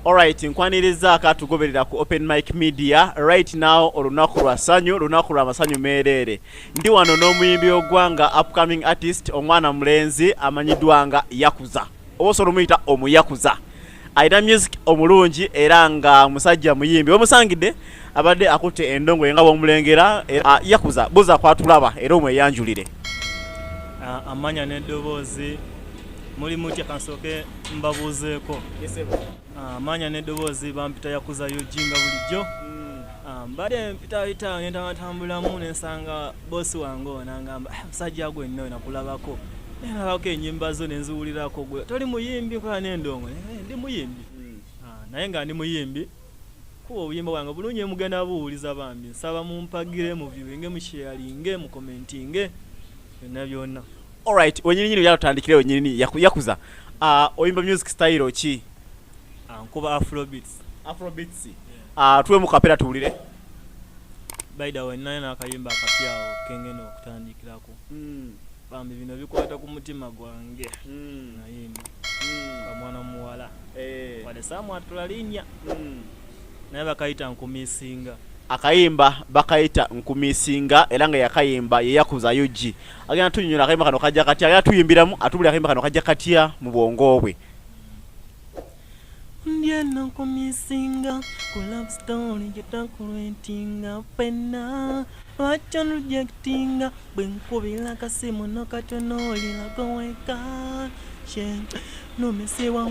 Alright, nkwaniriza akatugoberera ku Open Mic Media right now olunaku lwa sanyu lunaku lwa masanyu meereere ndi wano n'omuyimbi w'eggwanga upcoming artist omwana mulenzi amanyiddwa nga Yakuza oba osobola omuyita omuyakuza alina music omulungi era nga musajja muyimbi wemusangidde abadde akutte endongo nga bwomulengera ah, Yakuza buza kwatulaba era omweyanjulire ah, amanya n'eddoboozi muli mutya kansooke mbabuuzeeko ah, maanya n'eddoboozi bampita yakuza yojinga bulijjo hmm. ah, mbadde mpitayita nentabatambulamu nensanga boosi wange onangamba ah, musajja gwe nno nakulabako nalabako enyimba zo nenziwulirako gwe toli muyimbi nkola nendongo eh, ndi muyimbi hmm. naye nga ndi muyimbi kuba obuyimba bwange bulungi emugenda buwuliza bambi nsaba mumpagire muviwinge musheyalinge mukomentinge byonna byonna alright wenyini nyini yatandikire wenyini yakuza uh, oyimba music style ki ah, nkuba afrobeats afrobeats yeah. uh, ah, tuwe mukapera tuwulire by the way naye nakayimba akapyawo kengene okutandikirako mm. bambi bino bikwata ku mutima gwange mm. nayimba mm. kamwana muwala hey. Eh. wadesaamu atulalinya mm. Naye bakayita nkumisinga. Akayimba bakayita nkumisinga era nga yakayimba ye yakuza ug agenda tunyonyola akayimba kano kajja katya agenda tuyimbiramu atubulira akayimba kano kajja katya mu bwongo bwe ndi eno nkumisinga ku love story gyetakulwetinga fenna lwaki onrejectinga bwe nkubira kasimu nokatonoolirako weka she nomesebwa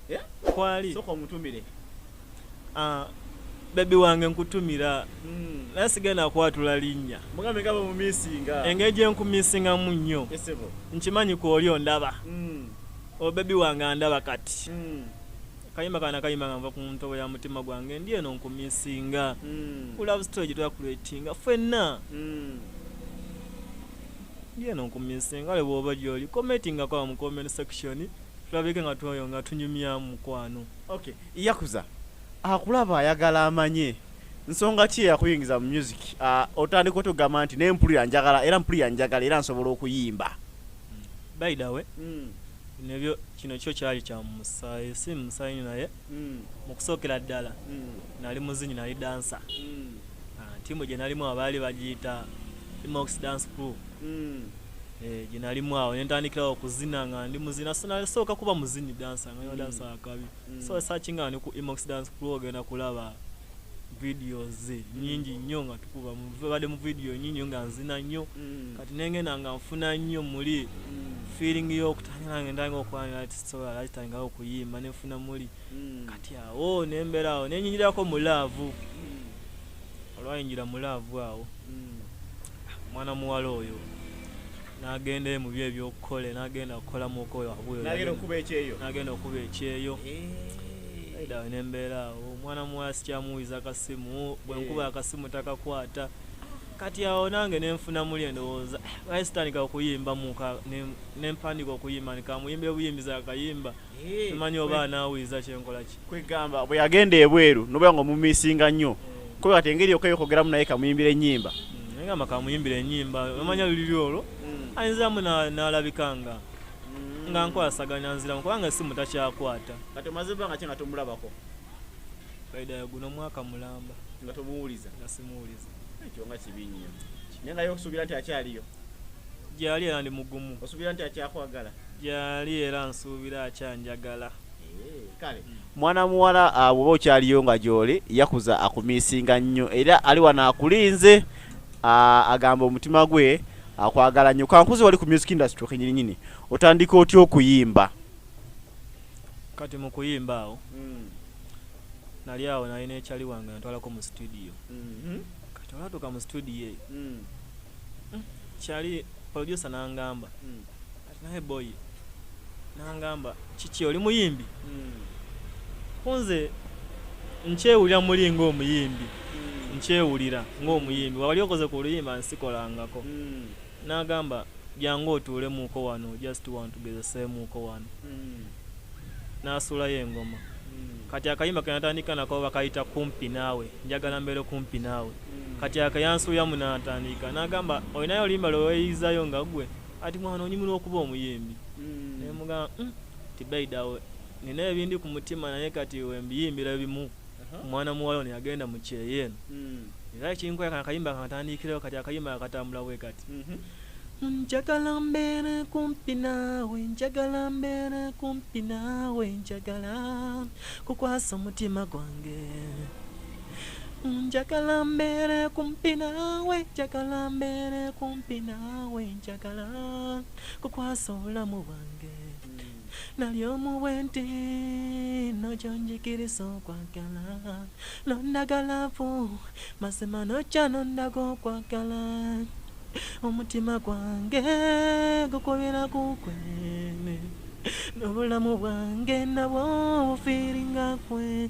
eh? kwali soka omutumire ah, bebi wange nkutumira hmm. naye sigenda kwatula linnya engeri gye nkumisingamu nnyo nkimanyi kwoli ondaba hmm. obebi oh, wange andaba kati hmm. kayimba kana kayimba nga nva ku ntobo ya mutima gwange ndi eno nkumisinga kulove story gye twakuletinga fenna ndi eno nkumisinga ale bwoba gyoli commentinga kwa mu comment section Tulabike nga twoyo nga tunyumya mukwano. Okay, Yakuza akulaba ayagala amanye nsonga ki eyakuyingiza mu music uh, otandika otugamba nti naye mpulira njagala era mpulira njagala era nsobola okuyimba mm. by the way mm. nebyo kino kyo kyali kya musaayi si musaayi naye mm. mu kusookera ddala mm. nali muzinyi nali dansa mm. uh, tiimu gye nalimu abaali bagiyita mox dance crew mm. eh, gye nalimu awo ne ntandikirawo okuzina nga ndi muzina sinasooka kuba muzini dansa nga nyo dansa mm. akabi mm. so esakinga ni ku emox dance crew ogenda kulaba vidiyo ze mm. nyingi nnyo nga tukuba badde mu vidiyo nyingi nyo nga nzina nnyo mm. kati nengenda nga nfuna nnyo muli mm. feeling y'okutandika nange ndanga okwanira ati sobola latitandikawo okuyimba nenfuna muli kati awo oh, nembeera awo nenyingirako mu laavu olwayingira mu laavu awo Mwana muwala oyo nagenda mu byo ebyokukola nagenda kukolamu okoyonagenda okuba ekyeyo nagenda okuba ekyeyo aidawe eh. nembeera awo omwana muwala sikyamuwiza akasimu bwenkuba eh. akasimu takakwata kati awo nange nenfuna muli endowooza baye sitandika okuyimba muka nempandika okuyimba nikamuyimba ebuyimbiza akayimba simanyi oba anaawiiza kyenkola ki kwegamba bwe yagenda ebweru nobeera nga omumisinga nnyo mm. kuba kati engeri yokka yokogeramu naye kamuyimbira ennyimba mm, naye ngamba kamuyimbira ennyimba omanya luliri olwo mm. ayinziramu n'alabika nga nga nkwasaganya nziramu kubanga simu takyakwata kati omaze ebbanga ki nga tomulabako faida guno mwaka mulamba nga tomuwuliza nga simuwuliza ekyo nga kibi nnyo naye nga yokusuubira nti akyaliyo gyali era ndi mugumu osuubira nti akyakwagala gyali era nsuubira akyanjagala eh, kale hmm. mwana muwala ah, bwoba okyaliyo nga gyoli yakuza akumiisinga nnyo era ali wano akulinze ah, agamba omutima gwe akwagala nnyo kankuzi wali ku music industry kenyininyini otandika otya okuyimba kati mu kuyimba awo hmm. nali awo nali nekyali wange natwalako mu studio hmm. kati olatuuka mu studio eyo hmm, kyali producer nangamba hmm. ati naye boy nangamba kiki oli muyimbi hmm. kunze nkyewulira muli ngaomuyimbi nkyewulira ngaomuyimbi wali okoze ku luyimba nsikolangako nagamba jangu otuulemuuko wano just want tugezeseemuuko wano nasuulayo engoma kati akayimba kenatandika nako bakayita kumpi naawe njagala mbeere kumpi naawe kati akayansuyamu natandiika nagamba olinayo olimba lweweyizayo nga gwe ati mwana onyumira okuba omuyimbi mm. nemugamba mm, tibaidawe nina ebindi ku mutima naye kati wembiyimbira ebimu omwana uh -huh. muwala ono yagenda mu kyeyo eno mm. era ekinkoya kana akayimba kantandiikireo kati akayimba akatambula bwe kati mm -hmm. njagala mbeere kumpi naawe njagala mbeere kumpi naawe njagala kukwasa omutima gwange njagala mbeere kumpi naawe njagala mbeere kumpi naawe njagala kukwasa obulamu bwange nali omu bwenti nokyonjigiriza okwagala nondagalavu mazima nokya nondaga okwagala omutima gwange gukubira kukwe n'obulamu bwange nabwo bufiiringa kwe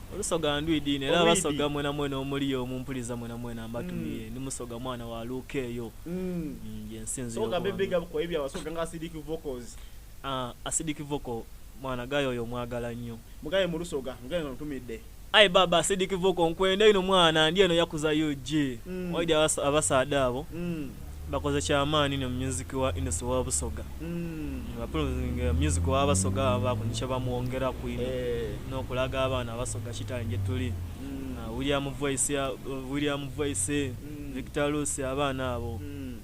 olusoga ndwidi ino era basoga mwena mwena omuli omu mpuliza mwena mwena mbatumiye mm. ndi musoga mwana wa luka eyo mm. mm, yensinzisoga bebega bukwaye byabasoga nga acidic vocals ah, acidic vocal mwana gayo oyo mwagala nnyo mugaye mu lusoga mugaye ntumidde ayi baba acidic vocal nkwenda ino mwana ndi eno yakuza ug mm. waidi abasaada abo mm. bakoze kyamaani no music wa industry wa busoga mm. bapulunga music wa basoga bakunisha bamwongera kwino eh. nokulaga abaana basoga kitali gye tuli mm. uh, william voice ya uh, william voice mm. victor lucy abaana abo mm.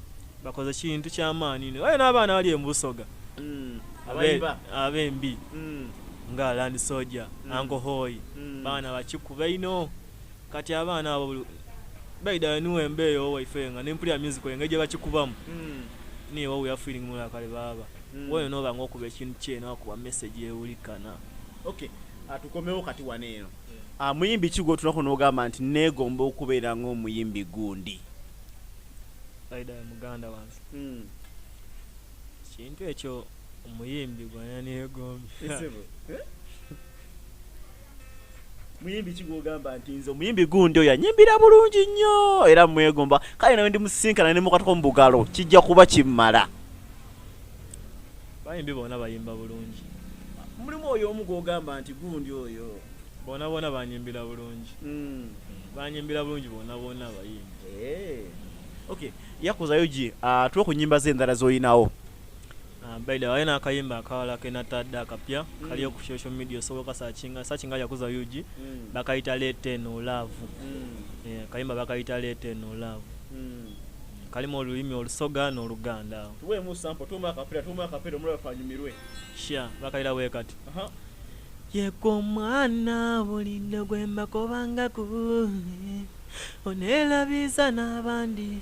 bakoze kintu kyamaani no ayo n'abaana bali embusoga mm. abembi mm. nga land soja mm. angohoyi mm. baana bakikuba ino Kati abaana abo buli by the way niwo emba eyo waife nga nempulira music engeri gyebakikubamu mm. niye wawe ya feeling mula kale baba mm. woyo noba nga okuba ekintu kyeno akuba message ewulikana okay atukomewo ah, kati wano eno ah, muyimbi ki gwotunako nogamba nti negomba okubeera ngaomuyimbi gundi muganda wange hmm. kintu ekyo omuyimbi gwananeyegombi muyimbi ki gwogamba nti nze omuyimbi gundi oyo anyimbira bulungi nnyo era mwegomba kale nawe ndi musinkana ne mukatuko mu bugalo kijja kuba kimmala bayimbi bona bayimba bulungi mulimu oyo omu gwogamba nti gundi oyo bona bona banyimbira bulungi hmm. banyimbira bulungi bona bona bayimbi eh. ok yakuzayo gi ah, tuwe ku nyimba z'endala z'olinawo Ah, by the way nakayimba akawala kenatadde akapya mm. kaliyo ku social media osobola okasakinga sakinga yakuza ug mm. bakayita lete no love mm. yeah, kayimba bakayita lete no love mm. kalimu olulimi olusoga n'oluganda sha bakayira wekati uh -huh. yeka omwana bulinde gwembakobangako onelabiza n'abandi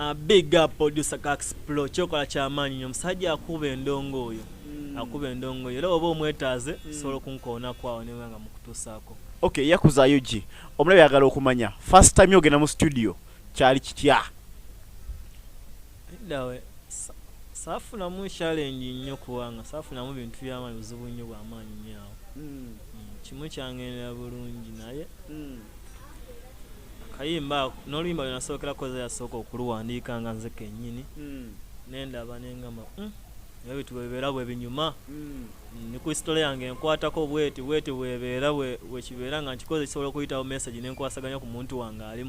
Uh, big up producer Kax Pro kyokola kyamaanyi nyo musajja akuba endongo oyo mm. akuba endongo oyo era oba omwetaaze mm. sobola okunkoonako awo newe nga mukutuusaako okay yakuza ug omulabe yagala okumanya first time yogenda mu studio kyali kitya dawe saafunamu challenge nnyo kubanga saafunamu bintu byamaanyi buzibu nnyo bwamaanyi nyo awo mm. mm. kimu kyangendera bulungi naye mm. akayimba ako n'oluyimba lwe nasookera koza yasooka okuluwandiika nga nze kennyini hmm. nendaba nengamba hmm, ebyo bitu bwebibeera bwe binyuma hmm. ni ku sitole yange enkwatako bweti bweti bwebeera wekibeera nga nkikoze kisobola okuyitawo message nenkwasaganya ku muntu wange ali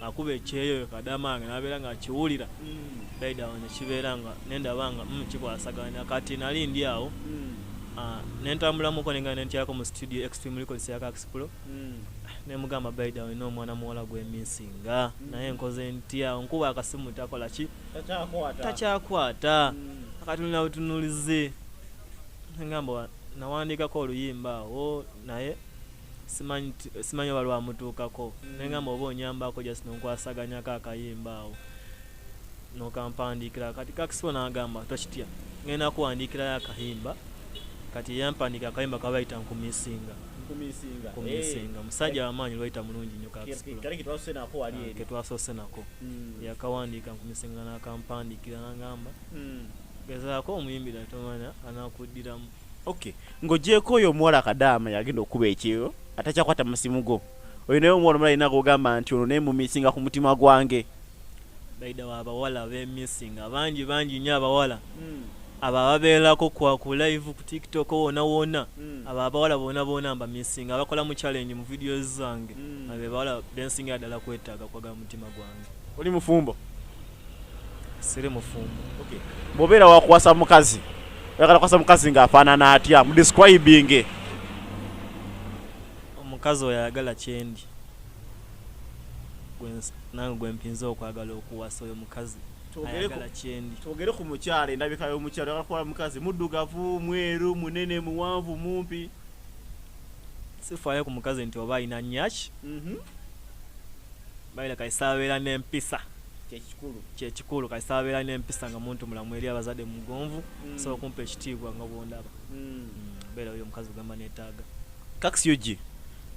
akuba ekyeyo kadamaange nabeera nga akiwulira daidawo nekibeera nga nendaba nga kikwasaganya kati nali ndi awo ah, nentambulamuko nengana nentyako mu studio extreme records ya kaxplo nemugamba by the way no mwana muwala gwe missinga mm. naye nkoze ntya nkuba akasimu takola ki takyakwata mm. akatunula butunulize ngamba nawandikako oluyimba awo naye simanyi oba lwamutuukako mm. nengamba oba onyambako just nonkwasaganyako akayimba awo nokampandiikira kati kakisibo nagamba tokitya ngenda kuwandiikirayo akayimba kati yampandiika akayimba kabayita nkumisinga kumisinga kumisinga eh. musajja wamaanyi lwayita mulungi nnyo kaketwasose nako wali eri ketwasose nako hmm. yakawandiika nkumisinga nakampandiikira nangamba hmm. gezaako omuyimbira tomanya anakuddiramu okay ng'ogyeko oyo omuwala kadaama yagenda okukuba ekyeyo atakyakwata musimu gwo oyo naye omuwala omulala alina kugamba nti ono naye mumisinga ku mutima gwange baidawo abawala bemisinga bangi bangi nyo abawala mm. abo ababeerako kwa ku live ku tiktok wona wona mm. abo abawala bona bona mba misinga abakola mu challenge mu video zange mm. abo abawala bensinga dala kwetaga kwaga mutima gwange oli mufumbo sire mufumbo okay bobera wakwasa mukazi yakala kwasa mukazi nga afana na atia mu describing omukazi oyagala chendi nange gwempinza okwagala okuwasa oyo mukazi ayagala kyendi twogere ku mukyala endabika y'omukyala oyagala kuwala mukazi muddugavu mweru munene muwanvu mumpi sifaayo ku mukazi nti oba alina nyaki mhm. bayira kaisababeera n'empisa kyekikulu kaisababeera n'empisa nga muntu mulamu eri abazadde mugonvu mm. sobola okumpa ekitiibwa nga bwondaba mm. mm, beera oyo omukazi ogamba netaaga kax ug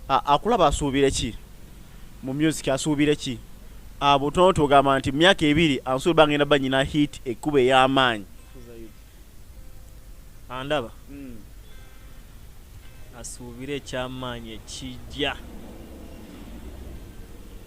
Akulaba asuubire ki mu music asuubire ki? Ah, butono tugamba nti myaka ebiri ansuubira ah, bangenda ba nyina hit ekkuba ey'amaanyi andaba hmm. asuubire ekyamaanyi ekijja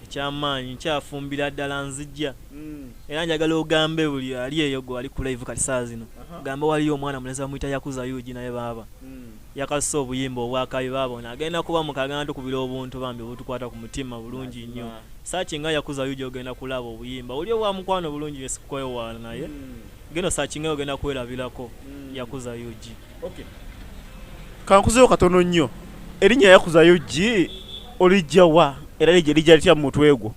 ekyamaanyi nkyafumbira ddala nzijja hmm. era njagala ogambe buli ali eyo gwe ali ku live kati saa zino gambe waliyo omwana mulezi bamuyita yakuza yugi naye baaba hmm. Yakasusa obuyimba obwa kabi baaba ono agenda kuba mukaga natukubira obuntu bambi obutukwata kumutima bulungi nnyo search nga yakuza ug ogenda kulaaba obuyimba oli obwa mukwano bulungi nnyo sikukwewaana naye geno search nga ogenda kwelabirako yakuza ug okay kankuzewo katono nnyo erinnya yakuza ug olijja wa era lijja lijja litya mu mutwe gwo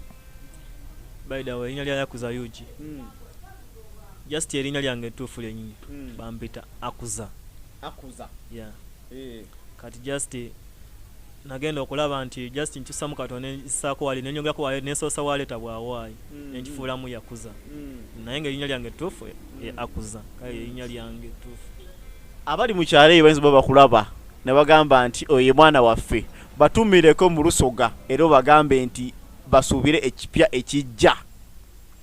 by the way erinnya lya yakuza ug hmm. just erinnya lyange ettuufu lyenyini hmm. bampita akuza akuza yeah. hey. Eh. kati just nagenda okulaba nti just nkyusamu kato nensaako wali nenyongerako wali nesoosa waleeta bwawaayi mm. nenkifuulamu yakuza mm. naye nga erinya lyange ttuufu eh, mm. akuza kale erinya lyange ttuufu abali mu kyalo eyo bayinza oba bakulaba ne bagamba nti oyo ye mwana waffe batumireko mu lusoga era obagambe nti basuubire ekipya ekijja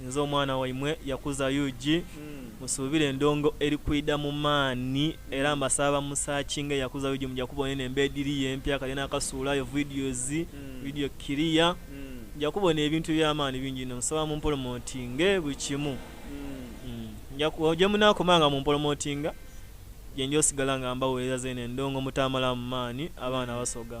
Nze omwana waimwe yakuza ug musubire endongo eri kwida mu maani era mbasaba ba mu searchinge yakuza ug muja kubona eno emba ediriyo empya kale nakasuulayo videos video clear muja kubona ebintu ebyamaani bingi ino nsaba mu mpolomotinge buli kimu njaku jemunakoma nga mu mpolomotinga jenja osigala nga mbawereza zeno endongo mutamalamu maani abaana basoga.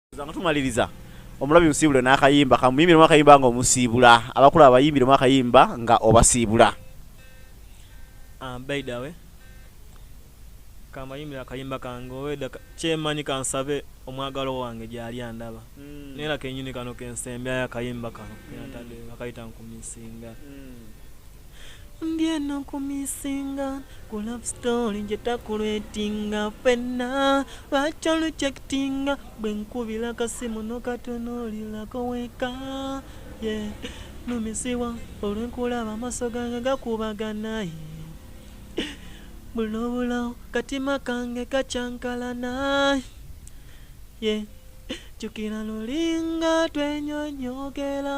nga tumaliriza omulabi musiibule n'akayimba kamuyimbiremu akayimba nga omusiibula abakulu abayimbiremu akayimba nga obasiibula ah, baidawe kamayimbira akayimba kange oweda kyemanyi kansabe omwagalo wange gyali andaba hmm. nera kenyini kano kensembyayo akayimba kano kenatade hmm. bakayita nkumisinga hmm. Ndi eno ku misinga ku love story nje takuletinga fenna lwaki olucekitinga bwe nkubila kasimu nokatunulilako weka ye numisibwa olwenkulaba amaso gange gakubagana ye bulobulo katima kange kacankalana ye jukila lulinga twenyonyogela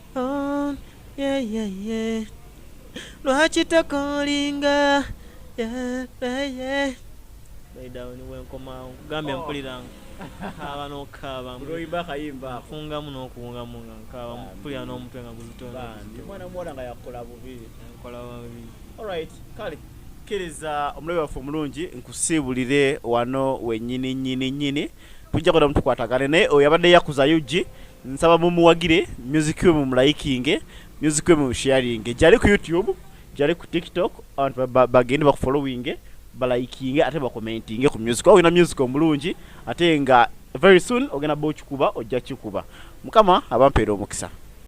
Oh, yeah, yeah, yeah. Lwaki tokolinga yeah, yeah, yeah. Baidawe ni wenkomawo nkugambye oh. mpuliranga kaaba nokukaaba nfungamu nokuwungamu nga nkaaba mpulira n'omutwe nga guzitonmwana muwala nga yakola bubi nkola bubi alright kale kkiriza omulabe waffe omulungi nkusiibulire wano wenyini nyini nyini, nyini. tujja kwenda mutukwatagane naye oyo abadde yakuza ug nsaba mumuwagire music we mumulayikinge music we mumusharinge gyali ku youtube gyali ku tiktok abantu bagende bakufollowinge balayikinge ate bakomentinge ku music oba olina music omulungi ate nga very soon ogenda ba okikuba ojja kikuba mukama abampeera omukisa